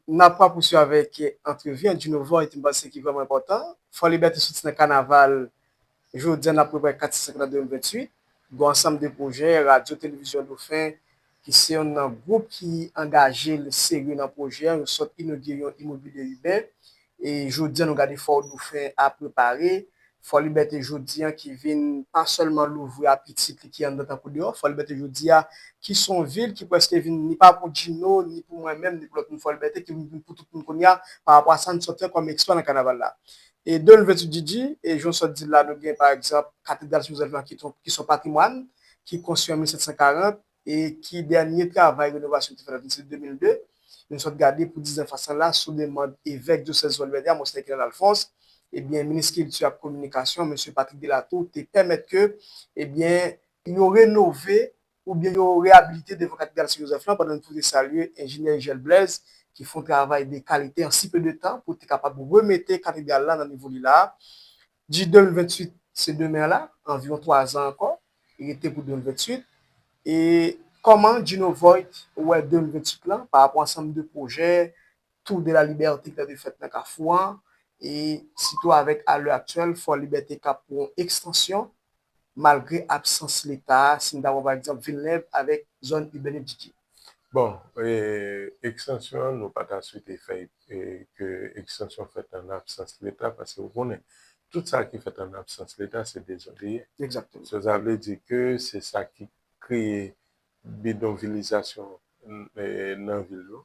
Nap pran pouswiv avèk antrevi an Djino Void mpanse ki vrèman enpòtan. Fòlibète soti nan kanaval jodi an nap prepare 4 6 7 lan 2028. Gon ansanm de pwojè radyo televizyon dofen ki se yonn nan gwoup ki angajel serye nan pwojè an yo sot inogire yon imobilye iben E jodi an nou gad efò Doufen a prepare Fòlibète jodi an ki vin pa sèlman louvri apitit li ki anndan tankou deyò. Fòlibète jodi a ki s on vil ki prèske vin ni pa pou Djino, ni pou mwen menm, ni pou lòt moun Fòlibète ki vin pou tout moun kounye a pa rapò a sa n sot fè kòm eksplwa nan kanaval la. E de lve tu Djidji, e jan w sot di l la nou gen pa egzanp Katedral Sen Jozèf lan ki s on patrimwàn ki konstwi an 1740, e ki dènye travay renovasyon yo te fè nan Vilsenit 2002, nou sot gade pou dizan fasan la sou demand Evèk dyosèz Zwoalvède a, Monseyè Kenel Alfons, ebyen Minis Kilti ak Kominikasyon, Mesye Patrick Delatour, te pèmèt ke, ebyen, yo renove oubyen yo reyabilite devan Katedral Sen Jozèf lan, pandan nou pwofite salye Enjenyè Ijèl Blèz ki fon travay de kalite an si pe de tan pou te kapab remete Katedral la nan nivo li la a. Di 2028 se demen la, anviwon 3 zan ankò rete pou 2028 e kòman Djino Voit wè 2028 lan pa rapò ansanm de pwojè Tour de la Liberté ki ta dwe fèt nan Kafou an e sitou avèk a lè aktyèl Fò Libète kap pou yon ekstansyon malgre absans leta a, si n ta pran pa egzanp Vilnèv avèk zòn ibèn yo didye? Bon, ekstansyon an nou pa ta swete fè ke ekstansyon fèt an absans leta paske ou konnen tout sa ki fèt an absans leta se dezòd li ye. Egzakteman. So sa vle di ke se sa ki kreye bidonvilizasyon nan vil yo.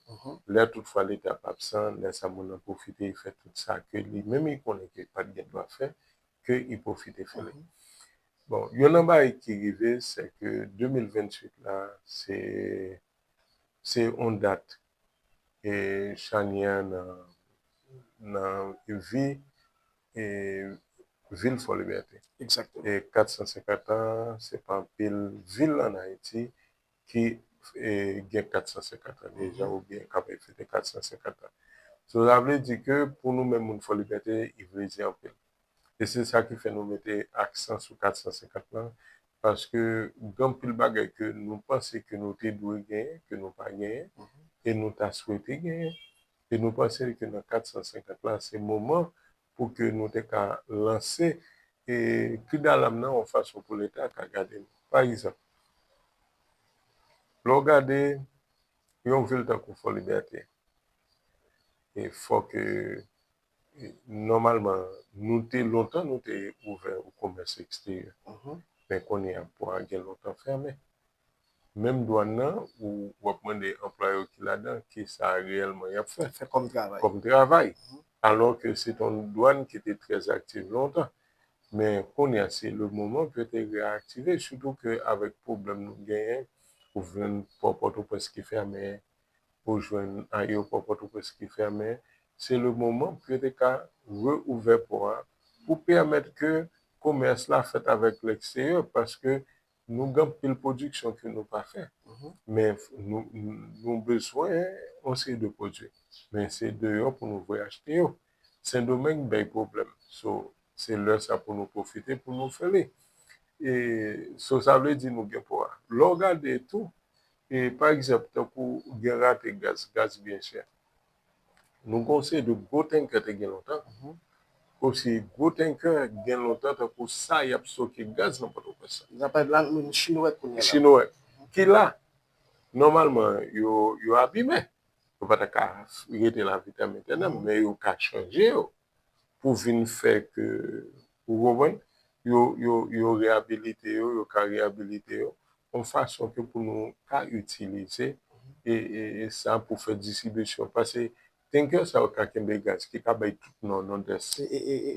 Lè tout fwa leta ap absan, lè sa moun nan pwofite fè tout sa ke li menm li konnen ke li pa t gen dwa fè, ke i pwofite fè li. Bon, youn nan bagay ki rive sè ke 2028 la se se yon dat e chanyè nan nan vi e vil Fòlibète. Egzakteman. E 450 an se pa anpil vil ann Ayiti ki gen 450 an deja oubyen k ape fete 450 an. So sa vle di ke pou nou menm moun Fòlibète i vle di anpil. E se sa ki fè nou mete aksan sou 450 lan paske gen anpil bagay ke nou panse ke nou te dwe genyen ke nou pa genyen e nou ta swete genyen e nou panse ke nan 450 lan se moman pou ke nou te ka lanse kri dalam nan yon fason pou leta ka gade nou. Pa egzanp, lè w gade yon vil tankou Fò Libète, e fò ke nòmalman nou te lontan nou te ouvè o komès eksteryè, men kounye a pò a gen lontan fèmen. menm dwann nan ou wap mande anplwaye yo ki ladan ki sa reyèlman yap fè kòm travay alò ke se te yon dwann ki te trè aktiv lontan men kounye a se le moman pou yo te reaktive sitou ke avèk pwoblèm nou genyen ou jwenn pò pòtoprens ki fèmen ou jwenn ayewopò pòtoprens ki fèmen se le moman pou yo te ka reouvè pò a pou pèmèt ke komès la fèt avèk lèkstèryè paske Nou gen anpil pwodiksyon ke nou pa fè. Men nou bezwen yon seri de pwodui. Men se deyò pou nou voye achte yo. Sendomeng bay pwoblèm. So se lè sa pou nou pwofite pou nou fè li. E so sa vle di nou gen pou a. Lè w gade tou, e pa egzanp tankou gen rate gaz. Gaz byen chè. Nou gen yon seri de gwo tankè te gen lontan, osi gwo tankè gen lontan tankou sa y ap stoke gaz nan Pòtoprens la. N ap pale la nou gen Chinowèk kounye a la. Chinowèk ki la. Nòmalman yo abime. Yo pa ta ka rete la vitam etènèm men yo ka chanje yo. pou vin fè ke, ou konprann, yo reyabilite yo, yo ka reyabilite yo, yon fason ke pou nou ka itilize sa pou fè distribisyon. Pase tanker sa yo ka kenbe gaz ki ka bay tout Nò, Nòdès,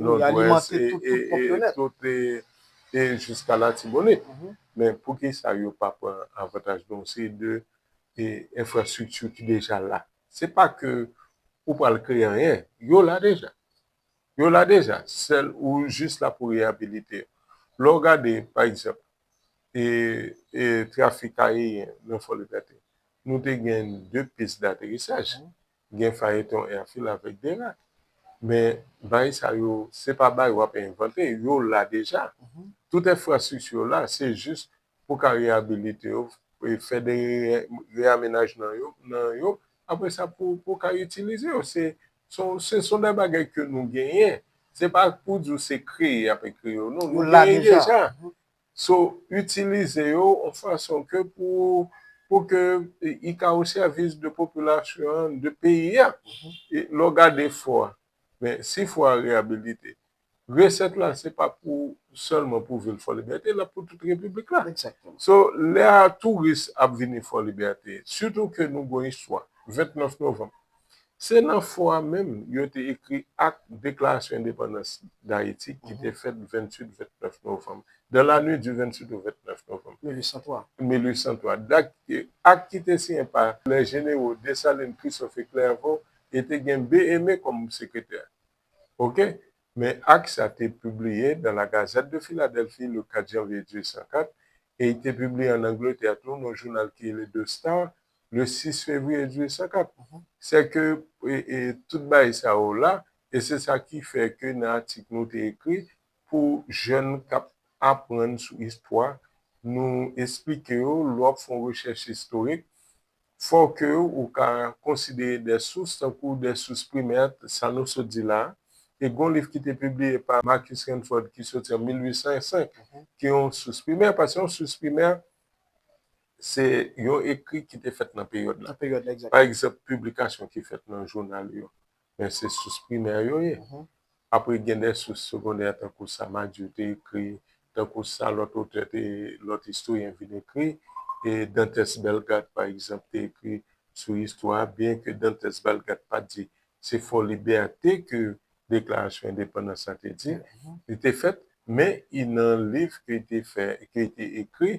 Nòdwès, e jiska Latibonit. Men poukisa yo pa pran avantaj de yon seri de enfrastrikti ki deja la? Se pa ke ou pral kreye anyen. Yo la deja. Yo la deja. Sèl ou jis la pou reyabilite yo. Lè w gade, pa egzanp, trafik ayeyen nan Fòlibète, nou te gen de pis daterisaj. Gen Fayeton Èfil avèk Derak. Men, bay sa yo, se pa bay w ap envante. Yo la deja. Tout enfrastrikti yo la. Se jis pou ka reyabilite yo, fè de reyamenajnan yo nan yo, apre sa pou ka itilize yo. Se son de bagay ke nou genyen. Se pa pou di ou se kreye y ap ekri yo non. Yo la deja. So, itilize yo an fason ke pou ke y ka o sèvis de popilasyon an, de peyi a. Lè w gade fò a, men si fò a reyabilite, Reset la se pa pou selman pou vil fò libète lap pou tout repiblik la so lè a touris ap vini fò libète sitou ke nou gon istwa 29 novanm se nan fò a menm yo te ekri ak deklarasyon endepandans dayiti ki te fèt 28 29 novanm dans la nuit du 28 au 29 novanm 1803 1803 dat ak ki te siyen pa lè jenero desalin christophe et clerveau e te gen be eme kòm sekretè. Ok, men ak sa te pibliye dans la Gazette de Philadelphie le 4 janvye 1804, e i te pibliye an Angletè tou nan yon jounal ki rele The Star le 6 fevriye 1804. Sè ke tout bagay sa yo la, e se sa ki fè ke nan atik nou te ekri pou jèn k ap aprann sou istwa, nou esplike yo lè w ap fè yon rechèch istorik, Fò ke ou ka konsidere de sous tankou de sous primè, sa nou sot di la, e gon liv ki te pibliye pa Marcus Rutherford ki soti an 1805 ki yon sous primè, paske yon sous primè se yon ekri ki te fèt nan peryòd la. Pa egzanp, piblikasyon ki fèt nan jounal yo. men se sous primè yo ye. Apre gen de sous segondè tankou sa Madiou te ekri, tankou sa lòt otè te, lòt istoryen vin ekri. E Dantès Bellegarde pa egzanp te ekri sou istwa a, byen ke Dantès Bellegarde pa t di se Fò Libète ke Deklarasyon Endepandans la te di, li te fèt, men i nan liv ke li te fè, ke li te ekri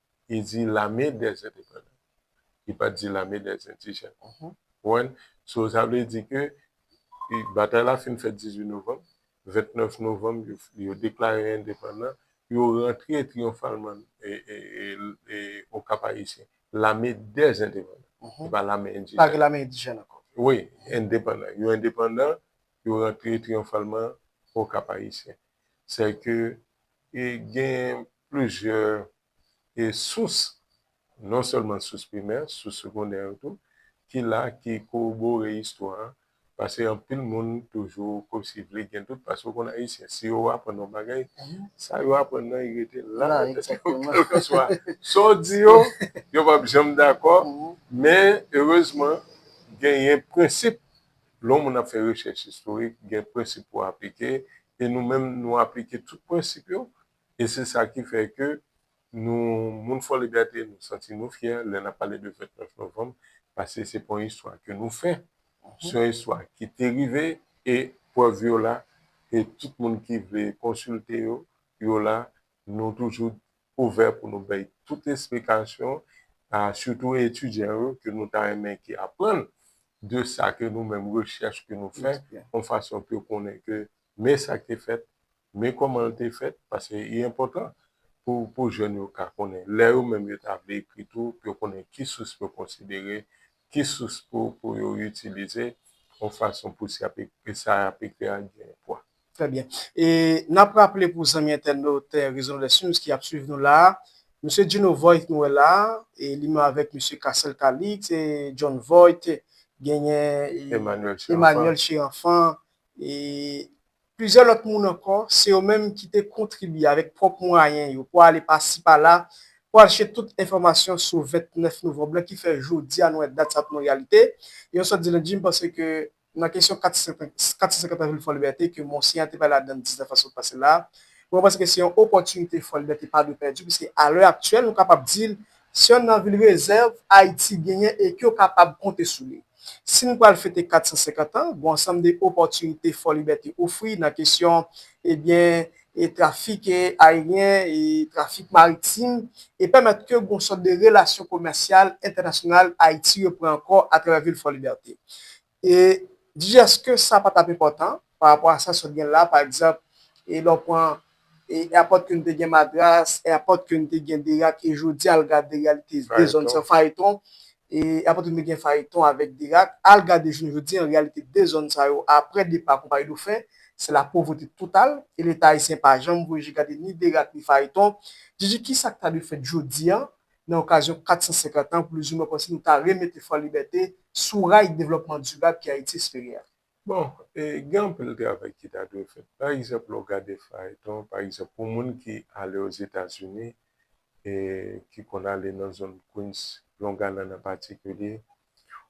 li di lame dè endepandan li pat di lame dè endijèn ou konprann so sa vle di ke batay la fin fèt 18 novanm 29 novanm yo deklare endepandan yo rantre triyonfalman o kap ayisyen lame dè endepandan se pa lame endijèn ankò wi endepandan yo endepandan yo rantre triyonfalman o kap ayisyen sè ke genyen plizyè sous, non sèlman sous primè, sous segondè yo tou, ki la, ki kowobore istwa a, pase anpil moun toujou kòmsi vle gen dout, pase ou konn Ayisyen, si yo aprann yon bagay, sa yo aprann nan y rete la nan tèt yo, kèlkanswa sa w di yo, yo p ap janm dakò, men erezman genyen prensip, lè yon moun ap fè rechèch istorik, gen prensip pou aplike, e nou menm nou aplike tout prensip yo, E se sa ki fè ke nou, moun Fòlibète, nou santi nou fyè lè n ap pale de 29 novanm, paske se pa yon istwa ke nou fè, se yon istwa ki te rive, e prèv yo la, e tout moun ki vle konsilte yo, yo la, nou toujou ouvè pou nou bay tout esplikasyon, a sitou etidyan yo, ke nou ta renmen ki aprann de sa ke nou menm, rechèch ke nou fè, yon fason pou yo konnen ke men sa ki te fèt, Men kòman l te fèt, paske li enpòtan pou pou jèn yo ka konnen lè yo menm yo ta vle ekri tou pou yo konnen ki sous pou yo konsidere, ki sous pou pou yo itilize yon fason pou si y ap ekri sa y ap ekri a gen pwa. Trè byen. E n ap raple pou zanmi entènot Rezon dè Sims ki ap suiv nou la a, Msye Djino Voit nou wè la a, e li menm avèk Msye Casel Calixte, John Voit, genyen Emmanuel Cherenfant, e plizyè lòt moun ankò, se yo menm ki te kontribye avèk pwòp mwayen yo pou ale pasi pala pou al chèche tout enfòmasyon sou 29 novanb lan ki fè jodi a nou wè dat sa a tounen yon reyalite. E yon sòt di lendi, m panse ke nan kesyon 450 an vil Fòlibète ke Monseyè a te pale ladan l 19 a sot pase la a, mwen panse ke se yon opòtinite Fòlibète pa dwe pèdi piske alè aktyèl nou kapab di l se yonn nan vil rezèv Ayiti genyen e ke yo kapab konte sou li. Si n pral fete 450 an, g'on ansanm de opòtinite Fò Libète ofri nan kesyon, ebyen, e trafik ayeryen, e trafik maritim, e pèmèt ke g'on sòt de relasyon komèsyal entènasyonal Ayiti repran ankò atravè vil Fò Libète. E, dijaske sa pa t'ap enpòtan, pa rapò a sa sòt gen la pa egzanp e lè w pran e apòt ke nou te gen madras e apòt ke nou te gen derak e jodi al gade reyalite de zòn sa fayeton e apòt ke nou te gen fayeton avèk derak al gade jounen jodi an reyalite de zòn sa yo aprè depa konpayi dofen se la povrete total e leta ayisyen pa janm voye je gade ni derak ni fayeton jiji ki sa k ta dwe fèt jodi an nan okazyon 450 an plizoumwen kòmsi nou ta remete fòlibète sou ray devlòpman dirab ke ayiti espere a. Bon, gen anpil travay ki ta dwe fèt. Pa egzanp, lè w gade fayton, pa egzanp, pou moun ki ale Ozetazini, ki konn ale nan zòn Queens, Long Island an patikilye,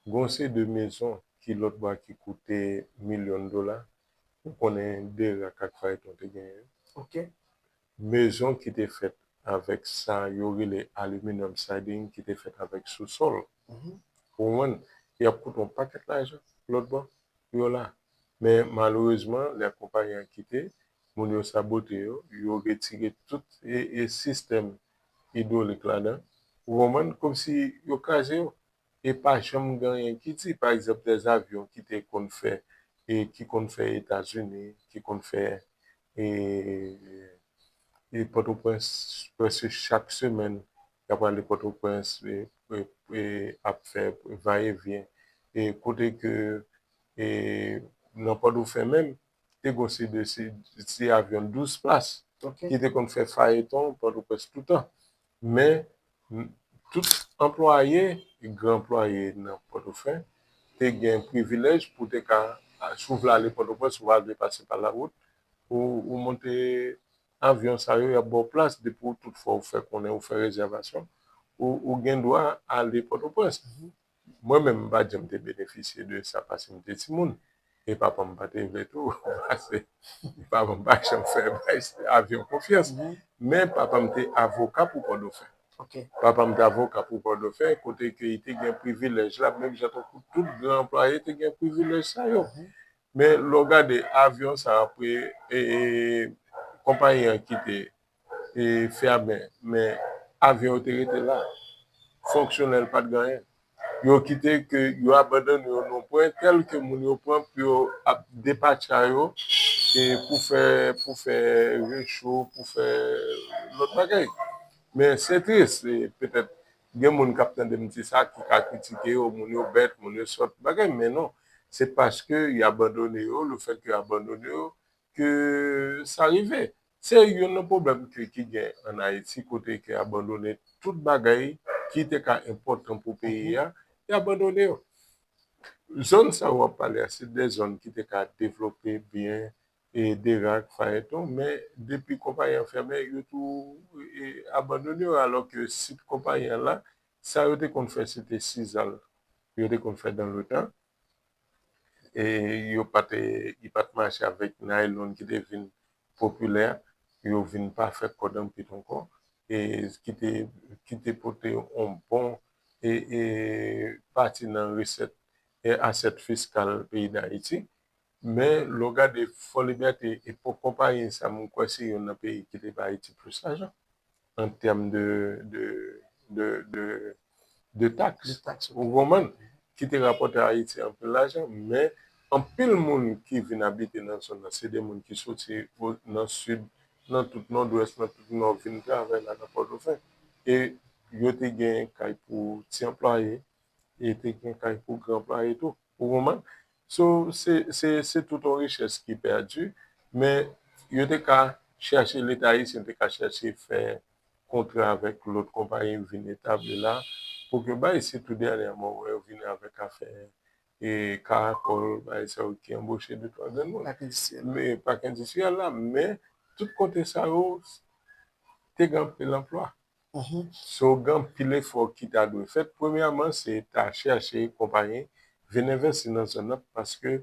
gen yon seri de mezon ki lòt bò a ki koute milyon dola. Ou konnen Derak ak fayton te genyen yo. Ok. Mezon ki te fèt avèk sa yo rele aluminum siding ki te fèt avèk sousòl. Ou konprann? Y ap koute yon pakèt lajan lòt bò pou yo la. Men malerezman, lè konpayi an kite, moun yo sabote yo, yo retire tout sistèm idwolik ladan. Ou konprann? Kòmsi yo kraze yo. e pa janm gen anyen ki di pa egzanp dè avyon ki te konn fè e ki konn fè etazini ki konn fè e e pòtoprens prèske chak semèn ya prale pòtoprens e e ap fè va e vyen e kote ke e nan pòtofen menm te gon se de se avyon 12 plas ki te konn fè fayeton pòtoprens toutan men tout anplwaye gran anplwaye nan pòtofen te gen privilèj pou te ka si w vle ale pòtoprens ou pa vle pase pa lawout ou monte avyon sa yo y ap ba w plas depi w tout fwa ou fè konnen ou fè rezèvasyon ou gen dwa ale pòtoprens Mwen menm m pa janm te benefisye de sa pase m te timoun e papa m pa te vle tou pase papa m pa janm fè avyon konfyans men papa m te avoka pou pòdofen papa m te avoka pou pòdofen kote ke li te gen privilèj la menm jan tankou tout gran anplwaye te gen privilèj sa yo men lè w gade avyon sa apre konpayi an kite e fè a bè men avyon yo te rete la fonksyonèl pat gen anyen yo kite ke yo abandone yo nan pwen tèl ke moun yo pran pou yo ap depatcha yo e pou fè pou fè recho pou fè lòt bagay men se tris petèt gen moun kap tande m di sa ki ka kritike yo moun yo bèt moun yo sòt bagay men non se paske yo abandone yo lefèt yo abandone yo ke sa rive. Se youn nan pwoblèm kle ki gen an Ayiti kote ke abandone tout bagay ki te ka enpòtan pou peyi a, y abandone yo. Zòn sa yo w ap pale a se de zòn ki te ka devlope byen e Derac, Phaeton men depi konpayi an fèmen yo tou abandone yo alò ke sit konpayi an la sa yo te konn fè se te sizal yo te konn fè dan le tan. e yo pa te li pa t mache avèk naylon ki te vin popilè yo vin pa fè kòd anpil ankò e ki te ki te pote yon bon e e pati nan resèt e asèt fiskal peyi dayiti Men lè w gade Fò Libète epòk konpayi sa m kwè se youn nan peyi ki te bay Ayiti plis lajan an tèm de taks ou konprann ki te rapòte Ayiti anpil lajan men anpil moun ki vin abite nan zòn nan se de moun ki soti nan sid nan tout nòdwès nan tout nò vin travay la nan Pòtoprens e yo te gen kay pou ti anplwaye e te gen kay pou gran anplwaye tou. Ou konprann? So, se, se, se tout yon richès ki pèdi, men yo te ka chèche, Leta ayisyen te ka chèche fè kontra avèk lòt konpayi vin etabli la, pou ke bay, sitou dènyèman ou wè yo vini avèk afè e karakòl, bagay sa yo ki anboche de twa grenn moun. Pak endistriyèl. Men, pak endistriyèl la, men, tout kote sa yo te gen anpil anplwa. So gen anpil efò ki ta dwe fèt. Premyèman se ta chèche konpayi vin envèsti nan zòn nan paske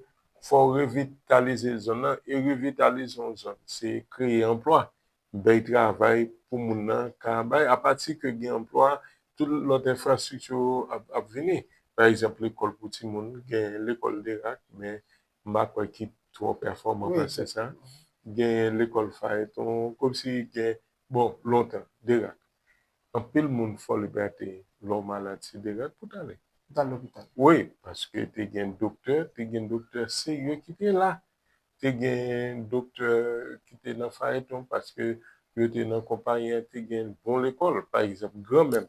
fò w revitalize zòn nan e revitalize yon zòn se kreye anplwa, bèy travay pou moun nan ka bay. Apati ke gen anplwa tout lòt enfrastrikti yo ap vini. Pa egzanp lekòl pou timoun, gen lekòl Derak men m pa kwè ki twò pèfòman pase sa. Gen lekòl Fayeton komsi gen Bon lontan derak anpil moun fòl gate lè w malad se derak pou w t ale wi paske te gen doktè te gen doktè serye ki te la te gen doktè ki te nan fayeton paske yo te nan konpayi an te gen bon lekòl pa egzanp granmè m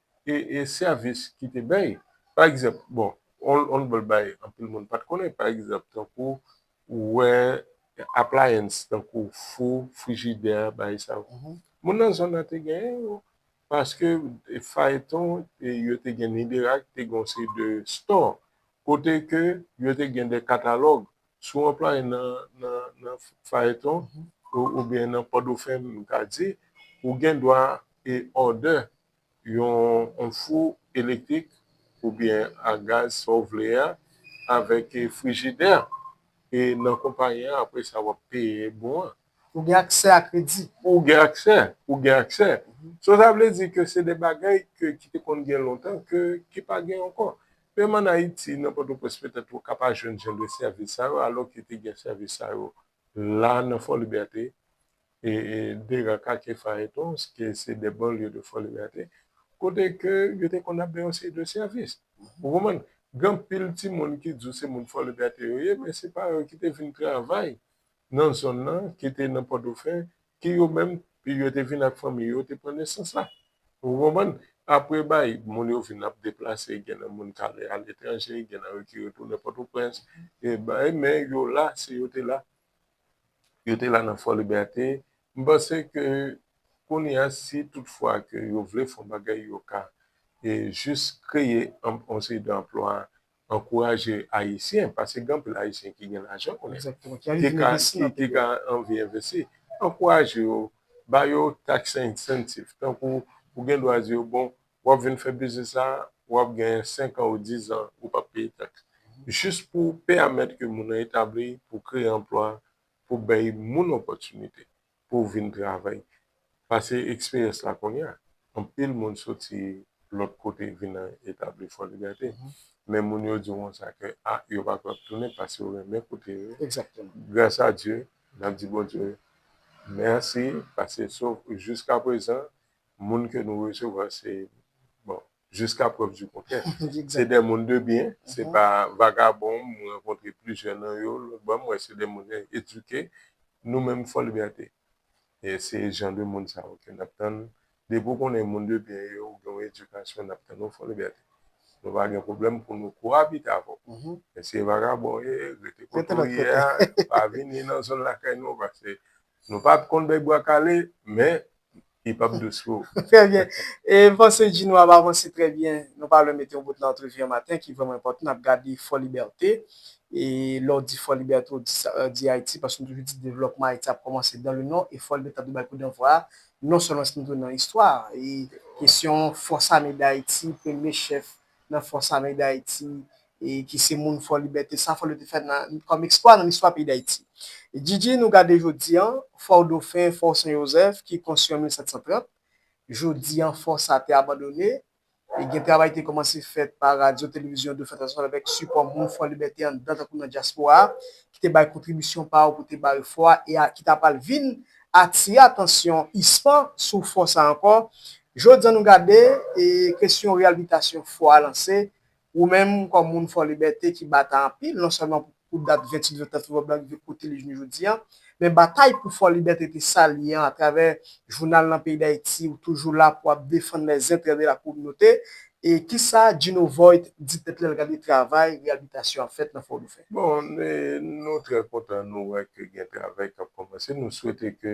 e sèvis ki te bay. Pa egzanp, bon, on lòt bagay anpil moun pa t konnen, pa egzanp, tankou ou wè appliance, tankou fou, frijidè, bagay sa yo. Moun nan zòn nan te genyen yo paske fayton yo te gen Niderak te gen yon seri de store kote ke yo te gen de katalòg. Si w anplwaye nan fayton oubyen nan Pòdofè m ka di, ou gen dwa e òdè yon fou elektrik oubyen a gaz sa ou vle a avèk frijidè e nan konpayi an apre sa wap peye bon an. Ou gen aksè a kredi. Ou gen aksè, ou gen aksè. So sa vle di ke se de bagay ke ki te konn gen lontan ke ki pa gen ankò. Menm an Ayiti nan Pòtoprens petèt ou ka pa jwenn jan de sèvis sa yo alò ke te gen sèvis sa yo la nan Fòlibète e de raka ke fayeton ke se de banlye de Fò Libète kote ke yo te konn ap bay yon seri de sèvis. Ou konprann? Gen anpil timoun ki di w se moun Fò Libète yo ye men se pa yo ki te vin travay nan zòn nan ki te nan Pòtofen ke yo menm yo te vin ak fanmi yo te pran nesans la. Ou konprann? Apre bay moun yo vin ap deplase gen nan moun k'ale a letranje gen nan yo ki retounen Pòtoprens e bay men yo la se yo te la. yo te la nan Fò Libète, m panse ke kounye a si tout fwa ke yo vle fon bagay yo ka jis kreye yon seri de anplwa, ankouraje Ayisyen, pase gen anpil Ayisyen ki gen lajan kounye a, ki ka anvi envesti, ankouraje yo, ba yo tax incentive, tankou ou gen dwa di yo bon, wap vin fè biznis la wap genyen 5 an ou 10 an ou pap peye taks jis pou peamèt ke moun nan etabli pou kreye anplwa pou bèy moun opòtinite pou vin travay pase eksperyans la kounye a anpil moun soti lòt kote vin etabli fò libète men moun yo diw konsa ke a yo pa kwè tounen pase yo renmen kote yo ye gras a Dye nap di Bondye mèsi pase jiskaprezan moun ke nou resevwa se bon jiska prèv di kontrè se de moun de byen se pa vagabon m rankontre plizyè nan yo lòt bò m wè se de moun edike nou menm Fòlibète se jan de moun sa yo ke n ap tann depi w konnen moun de byen yo ou gen yon edikasyon n ap tann ou Fòlibète nou pa gen pwoblèm pou nou koabite avè w men si e vagabon ou ye rete kote w ye a pa vini nan zòn lakay nou paske Nou pat konn bèk bwa kale men li pap dous pou ou. Trè byen. E m panse Djinou ap avanse trè byen. Nou pa lwen mete yon bout nan antrevi an maten ki vrèman enpòtan. N ap gade Fò Libète. E lè w di Fò Libète w di Ayiti paske nou toujou di devlòpman Ayiti ap kòmanse dan le non e Fò Libète ta dwe bay kou danvwa a non sèlman si nou te nan istwa e kesyon Fòs Ame Dayiti, premye chèf nan fòs ame Dayiti e ki se moun Fò Libète, sa Fòlyo te fè kòm eksplwa nan listwa peyi Dayiti. Djidji nou gade jodi an, Fò Dofen, Fò Sen Jozèf ki konstwi an 1730, jodi an fò sa te abandone e gen travay te kòmanse fèt pa Radyo Televizyon Dofen Entènasyonal avèk sipò moun Fò Libète anndan tankou nan dyaspora a ki te bay kontribisyon pa yo pou te bare fò a e ki ta pral vin atire atansyon ISPAN sou fò sa ankò Jodi an nou gade kesyon reyalbitasyon fò a lanse, ou menm kòm moun Fò Libète ki bata anpil non sèlman pou dat 28 Vèvè Tèt Rouge Blan rive kote li jounen jodi an, men batay pou Fò Libète te sa l ye an atravè jounal nan peyi Dayiti ou toujou la pou ap defann lèzentrè de la kominote e kisa Djino Voit di tèt lè l gade travay reyalbitasyon ap fèt nan Fò Doufen. Bon, nou trè kontan nou wè ke gen travay k ap kòmanse, nou swete ke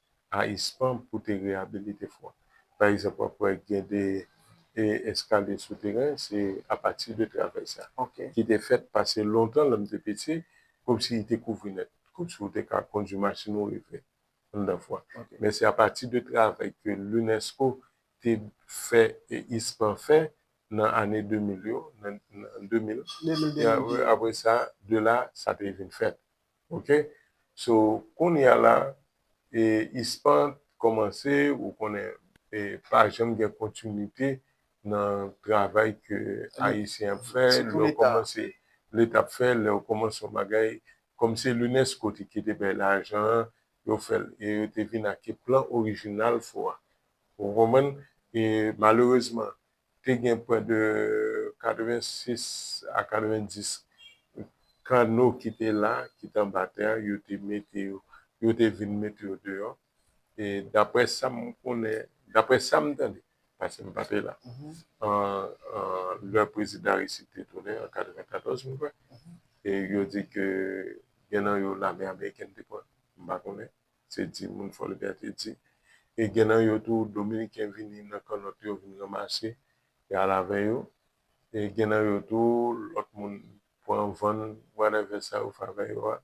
a ispan pou te reyabilite fò a. Pa egzanp, w ap wè gen de eskalye souteren, se apati de travèy sa ki te fèt pase lontan lè m te piti, kòmsi li te kouvri nèt. Kòmsi ou te ka kondui machin ou rive anndan fò a. Men se apati de travèy ke Lunesco te fè e ispan fè nan ane 2000 yo, nan 2000, apre sa, de la, sa te vin fèt. Ok so kounya la e ispan t kòmanse ou konnen e pa janm gen kontinite nan travay ke ayisyen ap fè lè w kòmanse leta ap fè lè w kòmanse yon bagay kòm se lunesco te kite bay lajan an yo fè l e yo te vin ake plan orijinal fò a ou konprann e malerezman te gen pwè de 86 a 90 kanno ki te la, ki te anba tè a, yo te mete yo, yo te vin mete yo deyò. E daprè sa m konnen, daprè sa m tande, pase m pa te la, lè Prezidan Aristide te tounen an 94 m kwè, e yo di ke gen nan yo lame amerikèn te pran, m pa konnen. se di moun Fòlibè te di. E gen nan yo tou dominiken vini nan kannòt yo vin ranmase e al avè yo. E gen nan yo tou lòt moun pran vann whatever sa yo fè avè yo a.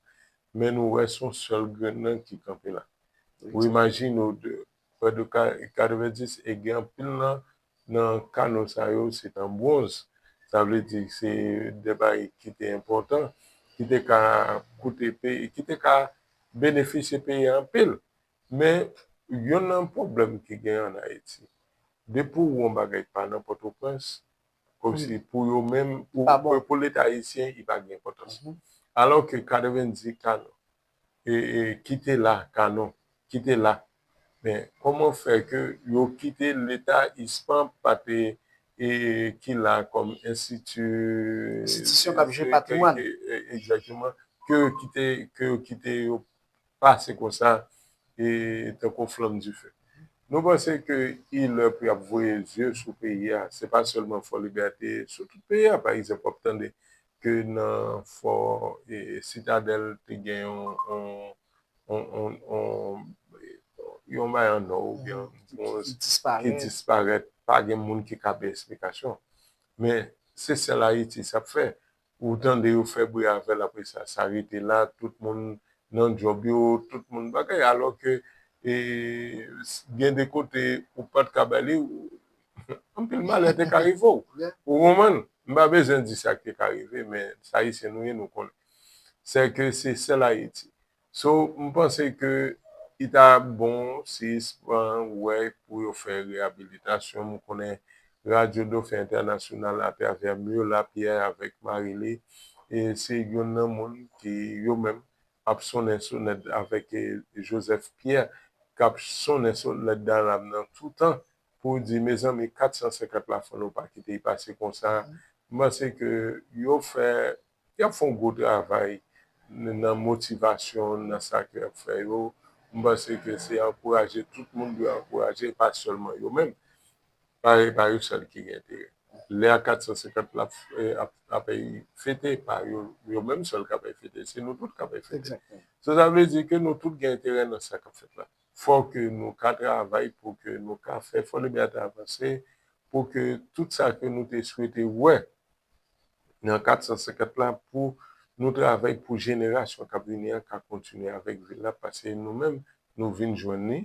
Men nou wè se yon sèl grenn nan ki kanpe la. Ou imajine w de Prè de 90 e gen anpil nan nan kano sa yo se t an bwonz. Sa vle di se de bagay ki te enpòtan, ki te ka koute peyi, ki te ka benefisye peyi a anpil. Men, yonn nan pwoblèm ki gen ann Ayiti, depi w wè yon bagay pa nan Pòtoprens, kòmsi pou yo menm, pou Leta ayisyen, li pa gen enpòtans. Alò ke 90 kano, kite la canon kite la men koman fè ke yo kite leta ispan pa te ki la kom enstiti enstitisyon kap jere patrimwan egzakteman ke yo kite ke yo kite yo pase konsa tankou flanm dife nou panse ke il lè pou yap voye zye sou peyi a se pa selman fòlibète sou tout peyi a pa egzanp wap tande ke nan fò sitadèl te gen yon bagay an nò oubyen yon bwonz ki disparèt pa gen moun ki ka bay esplikasyon men se sèl ayiti sa fè ou tande yo fè bri avèl apre sa sa rete la tout moun nan djòb yo tout moun bagay alò ke gen de kote ou pat ka bay li. Anpil malè te ka rive w. Ou konprann? M pa bezwen di sa k te ka rive men sa Ayisyen nou ye nou konnen. Sè ke se sèl Ayiti. So m panse ke li ta bon sispan wè pou yo fè reyabilitasyon. M konnen Radyo Dofen Entènasyonal atravè Mur Lapierre avèk mari li se youn nan moun ki yo menm ap sonnen sonèt avèk Joseph Pierre k ap sonnen sonèt Daram nan toutan pou w di mezanmi 450 la fò nou pa kite y pase konsa, m panse ke yo fè, y ap fè yon gwo travay nan motivasyon nan sa ke y ap fè yo, m panse ke se ankouraje tout moun dwe ankouraje e pa sèlman yo menm, e pa yo sèl ki gen enterè. Lè a 450 la ap fete, e pa yo menm sèl k ap fete, se nou tout k ap fete, sa vle di ke nou tout gen enterè nan sa k ap fèt la. fò ke nou ka travay pou ke nou ka fè Fòlibète avanse, pou ke tout sa ke nou te swete wè nan 450 la, pou nou travay pou jenerasyon k ap vini an ka kontinye avèk vil la, pase nou menm nou vin jwenn li,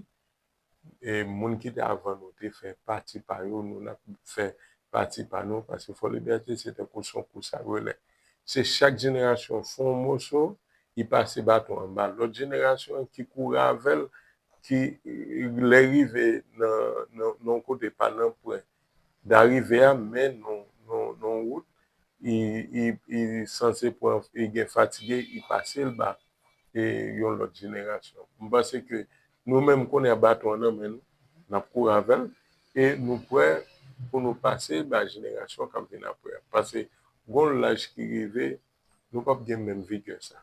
e moun ki te avan nou te fè pati pa yo, nou n ap fè pati pa nou, pase Fòlibète se tankou s on kous a relè. Se chak jenerasyon fè yon moso, li pase baton an ba lòt jenerasyon an ki kouri avè l, ki lè rive nan yon kote pa nan pwen darive a men nan yon wout, li sanse pran, li gen fatige, li pase l baton. e yon lòt jenerasyon. M panse ke nou menm kounye a baton an nan men nou, n ap kouri avè l e nou prè pou nou pase bay jenerasyon k ap vin apre a. Pase gon w laj ki rive nou p ap gen menm vigè sa.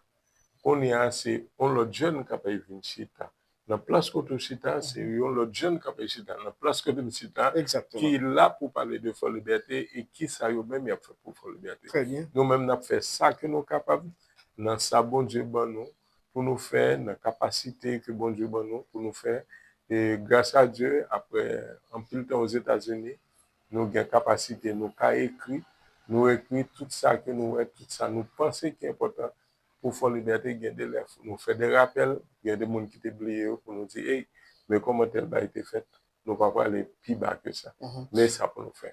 Kounye a se yon lòt jèn kapab vin chita nan plas kote w chita a se yon lòt jèn k ape chita nan plas kote m chita a ki la pou pale de Fò Libète e ki sa yo menm y ap fè pou Fò Libète. Nou menm n ap fè sa ke nou kapab nan sa Bondye ban nou pou nou fè, nan kapasite ke Bondye ban nou pou nou fè e gras a Dye apre anpil tan Ozetazini nou gen kapasite nou ka ekri, nou ekri tout sa ke nou wè, tout sa nou panse ki enpòtan Pou Fò Libète, gen de lè fò nou fè de rapèl, gen de moun ki te bliye yo pou nou di, ey, men kòman tèl bagay te fèt, nou pa prale pi ba ke sa. Men sa pou nou fè.